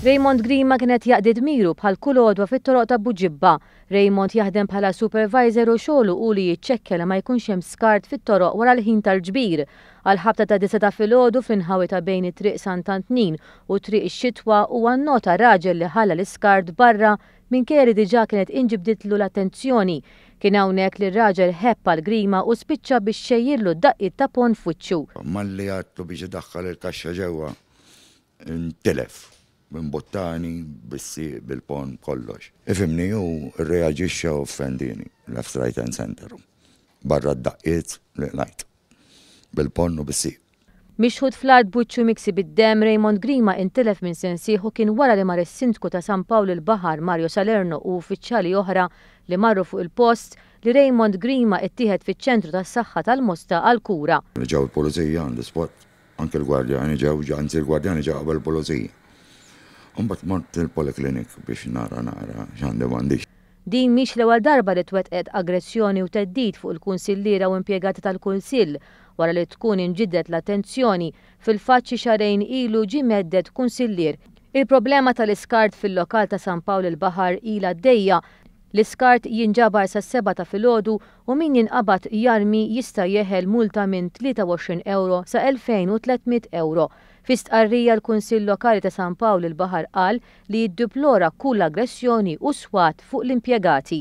Raymond Grima kien qed jaqdi dmiru bħal kull għodwa fit-toroq ta' Buġibba. Raymond jaħdem bħala supervisor u xogħlu hu li jiċċekkja li ma jkunx hemm skart fit-toroq wara l-ħin tal-ġbir. Għall-ħabta ta' disgħa ta' filgħodu fl-inħawi ta' bejn it-Triq Sant'Antnin u Triq ix-Xitwa huwa nnota raġel li ħalla l-iskart barra Minkejja li diġà kienet inġibditlu l-attenzjoni, kien hawnhekk li r-raġel ħebb għall-grima u spiċċa biex xejjirlu d-daqqiet ta' ponn f'wiċċu. Malli għadtu biex idaħħal il-kaxxa ġewwa, intilef minn buttani, bis-sieq, bil-ponn, b'kollox. Ifhimni, hu rreaġixxa u offendieni, left, right and centre, barra d-daqqiet li qlajt bil-ponn u bis-sieq. Mixħut fl-art b'wiċċu miksi bid-demm, Raymond Grima intilef minn sensih u kien wara li mar is-Sindku ta' San Pawl il-Baħar, Mario Salerno u uffiċjali oħra li marru fuq il-post, li Raymond Grima ttieħed fiċ-Ċentru tas-Saħħa tal-Mosta għal kura. Ġew il-Pulizija on the spot, anke l-gwardjani ġew, anzi l-gwardjani ġew qabel il-Pulizija. Imbagħad mort il-Polyclinic biex nara naqra x'għandi u m'għandix. Din mhix l-ewwel darba li twettqet aggressjoni u theddid fuq il-kunsilliera u impjegati tal-Kunsill wara li tkun inġibdet l-attenzjoni, fil-fatt xi xahrejn ilu ġie mhedded kunsillier. Il-problema tal-iskart fil-lokal ta' San Pawl il-Baħar ilha għaddejja, l-iskart jinġabar sas-sebgħa ta' filgħodu u min jinqabad jarmi jista' jeħel multa minn 23 ewro sa 2,300 ewro. Fi stqarrija l-Kunsill Lokali ta' San Pawl il-Baħar qal li jiddeplora kull aggressjoni u swat fuq l-impjegati.